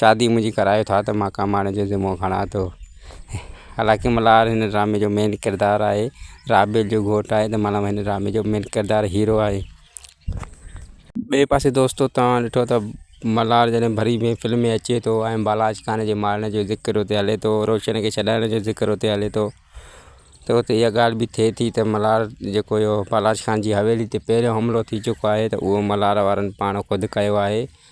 شادي منهنجي ڪرايو ٿا ته مان ڪمائڻ جو ذمو کڻان ٿو حالانڪه ملهار هن ڊرامي جو مين ڪردار آهي رابيل جو گهوٽ آهي ته ملهار هن ڊرامي جو مين ڪردار هيرو آهي ٻئي پاسي دوستو تواهان ڏٺو ته ملهار جڏهن ڀري ۾ فلم ۾ اچي ٿو ۽ بالاچ خان جي مارڻ جو ذڪر اتي هلي ٿو روشن کي ڇڏائڻ جو ذڪر اتي هلي ٿو ته اتي اها ڳالهه به ٿئي ٿي ته ملهار جيڪو اهو بالاچ خان جي حويلي تي پهريون حملو ٿي چڪو آهي ته اهو ملهار وارن پاڻ خود ڪيو آهي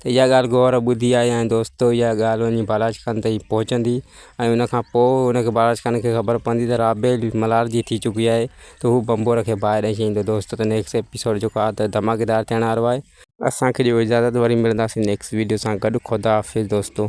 ته اها ڳالهه گوهر ٻڌي آهي ۽ دوستو اها ڳالهه وڃي بالاچ خان تائين پهچندي ۽ ان کان پوء ان کي بالاچ خان کي خبر پوندي ته رابيل ملهار جي ٿي چڪي آهي ته هو بمبور کي باهه ڏئي ڇڏيندو دوستو ته نيڪسٽ ايپيسوڊ جيڪو آهي ته ڌماڪيدار ٿيڻ وارو آهي. اسان کي ڏيو اجازت وري ملنداسين نيڪسٽ ويڊيو سان گڏ خدا حافظ دوستو.